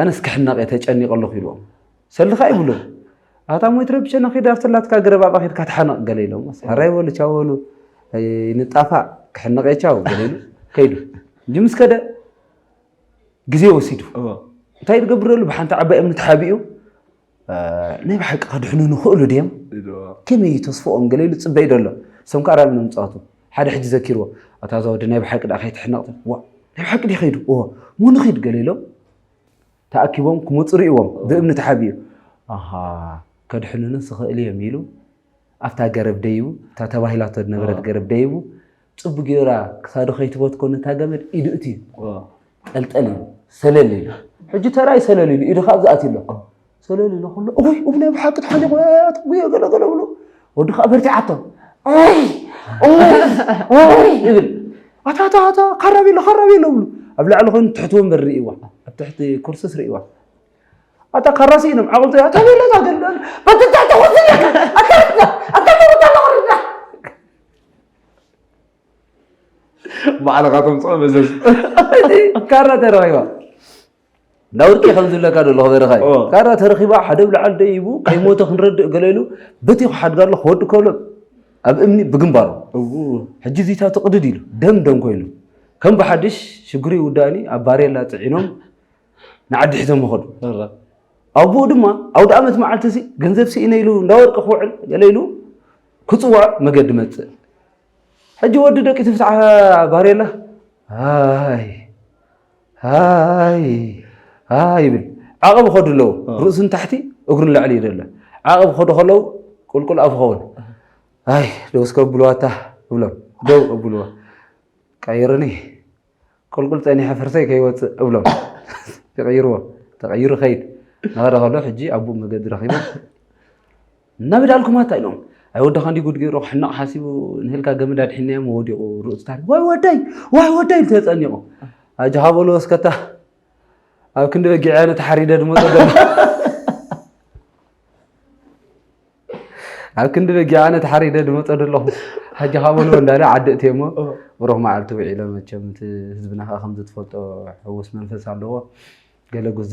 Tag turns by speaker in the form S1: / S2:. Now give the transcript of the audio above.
S1: ኣነስ ክሕነቕ እየ ተጨኒቐ ኣለኹ ኢልዎም ሰልኻ ይብሉ ኣታ ሞይት ረብሸ ንኺድ ኣብቲ ናትካ ገረብ ኣብኣ ኺድካ ተሓነቕ ገለ ኢሎም ሃራይ በሉ ቻው በሉ ንጣፋእ ክሕነቕ እየ ቻው ገለ ኢሉ ከይዱ እንጂ ምስ ከደ ግዜ ወሲዱ እንታይ ዝገብረሉ ብሓንቲ ዓባይ እምኒ ተሓቢኡ ናይ ብሓቂ ከድሕኑ ንኽእሉ ድም ከመይ እዩ ተስፍኦም ገለ ኢሉ ፅበይ ደሎ ሰም ከዓ ራሚ ንምፅዋቱ ሓደ ሕጂ ዘኪርዎ ኣታ እዛ ወዲ ናይ ብሓቂ ድኣ ከይትሕነቕ ዋ ናይ ብሓቂ ድዩ ከይዱ እዎ እሞ ንኺድ ገለ ኢሎም ተኣኪቦም ክመፁ ርእዎም ብእምኒ ተሓቢኡ ኣሃ ከድሕኑንስ ይኽእል እዮም ኢሉ ኣብታ ገረብ ደይቡ እታ ተባሂላቶ ዝነበረት ገረብ ደይቡ ጽብ ገይራ ክሳዱ ከይትበትኮ ነታ ገመድ ኢዱ እትዩ ጠልጠል ኢሉ ሰለል ኢሉ ሕጂ ተራይ ሰለል ኢሉ ኢዱ ካብ ዝኣትዩ ኣሎ ሰለል ኢሉ ከሎ እወይ እብ ናይ ብሓቂ ተሓሊቑ ኣትጉዮ ገለ ገለ ብሎ ወዲ ከዓ በርቲዓቶ እወይ እወይ እወይ ይብል ኣታታታ ካራብ ኢሎ ካራብ ኢሎ ብሉ ኣብ ላዕሊ ኮይኑ ትሕቲ ወንበር ርእይዋ ኣብ ትሕቲ ኩርስስ ርእይዋ ኣታ ካራሲ ኢኖም ዓቕልቶ እያ ተበለታ ገለ በትታሕቲ ኩርሲ ኣለካ ኣታ ኣታ ተወታ ኣለኹ
S2: ባዕልኻ ተምፅኦ መዘዝ ካራ
S1: ተረኺባ ናውርቂ ከም ዝለካ ደሎ ክበረኻ ካራ ተረኺባ ሓደ ብልዓል ደይቡ ከይሞተ ክንረድእ ገለሉ በቲ ክሓድጋ ኣሎ ክወዲ ከሎ ኣብ እምኒ ብግንባሩ ሕጂ እዚታ ትቕድድ ኢሉ ደም ደም ኮይኑ ከም ብሓድሽ ሽግሪ ውዳእኒ ኣብ ባሬላ ፅዒኖም ንዓዲ ሒዞም ይኸዱ ኣቦኡ ድማ ኣውደ ዓመት መዓልቲ ገንዘብ ስኢነ ኢሉ እንዳወርቂ ክውዕል ገለ ኢሉ ክፅዋዕ መገዲ መፅእ ሕጂ ወዲ ደቂ ትፍትሓ ባሬላ ኣይ ኣይ ኣይ ይብል ዓቐብ ኸዱ ኣለዉ ርእሱ ንታሕቲ እግሩ ንላዕሊ ይደ ኣሎ ዓቐብ ኸዱ ከለዉ ቁልቁል ኣፍ ኸውን ኣይ ደውስ ከብልዋ እታ እብሎም ደው እብልዋ ቀይርኒ ቁልቁል ፀኒሐ ፍርሰይ ከይወፅእ እብሎም ይቕይርዎ ተቐይሩ ኸይድ ናኸደ ከሎ ሕጂ ኣቡኡ መገዲ ረኺቦ እናበዳልኩም ኣታ ኢሎም ኣይ ወድኻ እንዲ ጉድ ገይሩ ክሕነቕ ሓሲቡ ንህልካ ገመድ ኣድሒናዮም ወዲቑ ርእሱ ታሪክ ዋይ ወደይ ዋይ ወደይ ኢሉ ተፀኒቑ ኣጆኻ በሎ ወስከታ ኣብ ክንዲ በጊዕያ ነተሓሪደ ድመፆ ዘሎ ኣብ ክንዲ በጊዕ ኣነ ተሓሪደ ድመፀ ደለኹ ሕጂ ካብ ወልወ እንዳለ ዓዲ እትየ እሞ ብሩኽ መዓልቲ ውዒሎ መቸም እቲ ህዝብና ከዓ ከምዚ ትፈልጦ ሕውስ መንፈስ ኣለዎ ገለ ጉዚ